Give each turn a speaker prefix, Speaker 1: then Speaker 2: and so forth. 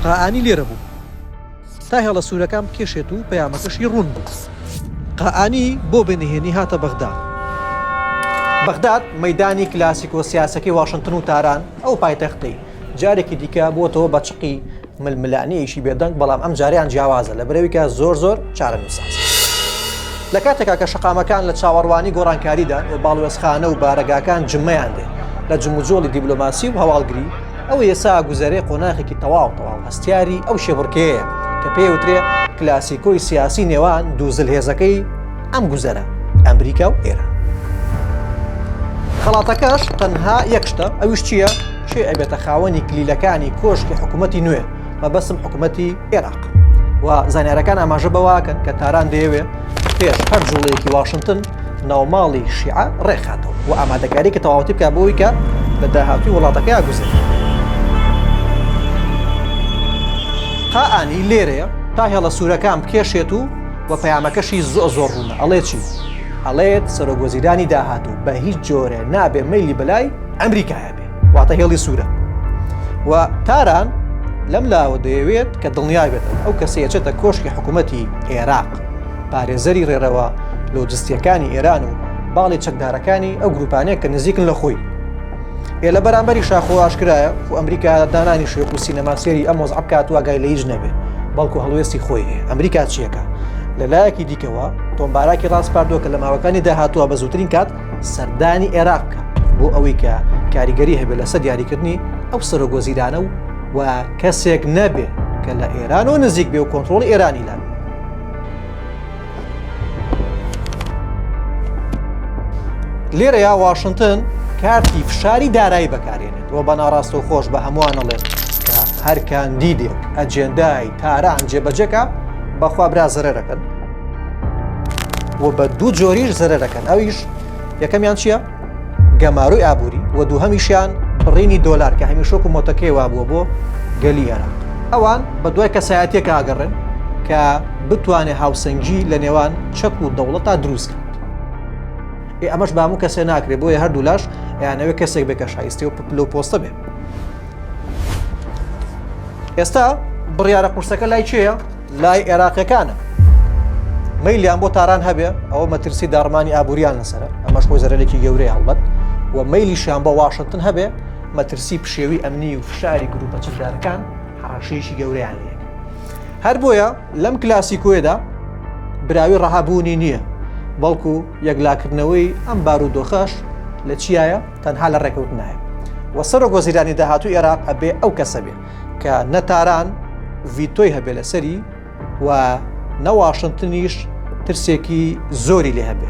Speaker 1: قائانی لێرە بوو تا هێڵە سوورەکان بکێشێت و پەیامەکەشی ڕوون بوو. قائانی بۆ بە نهێنی هاتە بەغدا. بەغداد مەدانی کلاسیکۆ سیاسەکەی واشنتن و تاران ئەو پایتەختی جارێکی دیکە بووەتەوە بە چقی ململانێیەکی بێدەنگ بەڵام ئەم جاریان جیاوازە لە برەویکە زۆر زۆر چارەنووسساز لە کاتێکا کە شقامەکان لە چاوەڕوانی گۆڕانکاریدان و باڵوێزخانە و بارەگاکان جمەیان دێ لە جموجۆڵی دیبلۆماسی و هەواڵگری ئەوە یەسا گوزەرێ قۆناخێکی تەواو تەواو هەستیاری ئەو شێبڕکەیە کە پێوترێ کلاسیکۆی سیاسی نێوان دوو زل هێزەکەی ئەم گوزەرە ئەمریکا و ئێرە خەڵاتەکەش تەنها یەکشتە ئەوش چییە چێ ئەبێتە خاوەنی کلیلەکانی کۆشکی حکوومەتتی نوێ مەبەسم حکوومەتتی عێراق و زانارەکان ئاماژە بەواکەن کە تاران دەیەوێت پێش هەر جوڵەیەکی واشنگتن ناوماڵی شیعە ڕێکخاتەوە و ئامادەکاریکە تەواوەتی بکە بۆی کە لە داهاتوی وڵاتەکە یاگوزێت قائانی لێرەیە تا هێڵە سوورەکان بکێشێت و و پەیامەکەشی زۆ زۆر ڕوونە ئەڵێ چی ئەڵێت سەرۆگۆزیرانی داهاتوو بە هیچ جۆرە نابێ مەلی بەلای ئەمریکایە بێ واتە هێڵی سوورە و تاران لەم لاوە دەیەوێت کە دڵنیا بێت ئەو کەسێچێتە کۆشکی حکوومەتتی عێراق پارێزەری ڕێرەوە لۆجستیەکانی ئێران و باڵی چەکدارەکانی ئەو گروپانەیە کە نزیکن لە خۆی ئێ لە بەرامبەری شاخۆ ئاشکرایە خو ئەمریکا دانانی شێک و سینەماسیری ئەم وەز عبکات واگای لە هیچ نەبێ بەڵکو هەڵوێستی خۆی ئەمریکا چیەکە لە لایەکی دیکەوە تۆمباراکی ڕاستپاردووە کە لە ماوەکانی داهاتوە بە زووترین کات سەردانی عێراق بکە بۆ ئەوەی کە کاریگەری هەبێت لەسەر دیاریکردنی ئەو سەرۆک وەزیرانە و و کەسێک نەبێ کە لە ئێران و نزیک بێ و کۆنتترۆڵی ئێرانی لان لێرە یا واشنگتن کارتی فشاری دارایی بەکارێنێت و بە ناڕاستە و خۆش بە هەمووانەڵێت کە هەر کاندیدێک ئەجێندای تاران جێبەجەکە بەخوا برا زەرەکەن و بە دوو جۆریش زەرە دەکەن ئەویش یەکەمیان چییە؟ گەماروی ئابووری و دوو هەمیشیان بڕینی دۆلار کە هەمیشۆک و مۆتەکەی وابووە بۆ گەلی ئێران ئەوان بە دوای کەسایەتێک ئاگەڕن کە بتوانێ هاوسەنگی لە نێوان چەک و دەوڵەت تا دروست کرد ئێ ئەمەش بامو کەسێ ناکرێت بۆیە هەردوو لاش یانەوە کەسێک بێ کە شایستی و پلو پۆستە بێ ئێستا بڕیارە قورسەکە لای چێە لای عێراقیەکانە مەیلیان بۆ تاران هەبێ ئەوە مەترسی داڕمانی ئابووریان لەسرە ئەمەش خۆی زەرەێکی گەورەی هەڵبەت و مەیلیشیان بۆ واشنگتن هەبێ مەترسی پشێوی ئەمنی و فشاری گروپە چەکدارەکان حڕەشەیەکی گەوریان لێ هەر بۆیە لەم کلاسیکۆێدا براوی ڕەهابوونی نییە بەڵکو یەکلاکردنەوەی ئەم بارودۆخەش لە چیایە تەنها لە ڕێکەوت نایە وە سەرۆک وەزیرانی داهاتوو عێراق ئەبێ ئەو کەسە بێت کە نە تاران ڤیتۆی هەبێ لەسەری و نە واشنتنیش ترسێکی زۆری لێ هەبێ.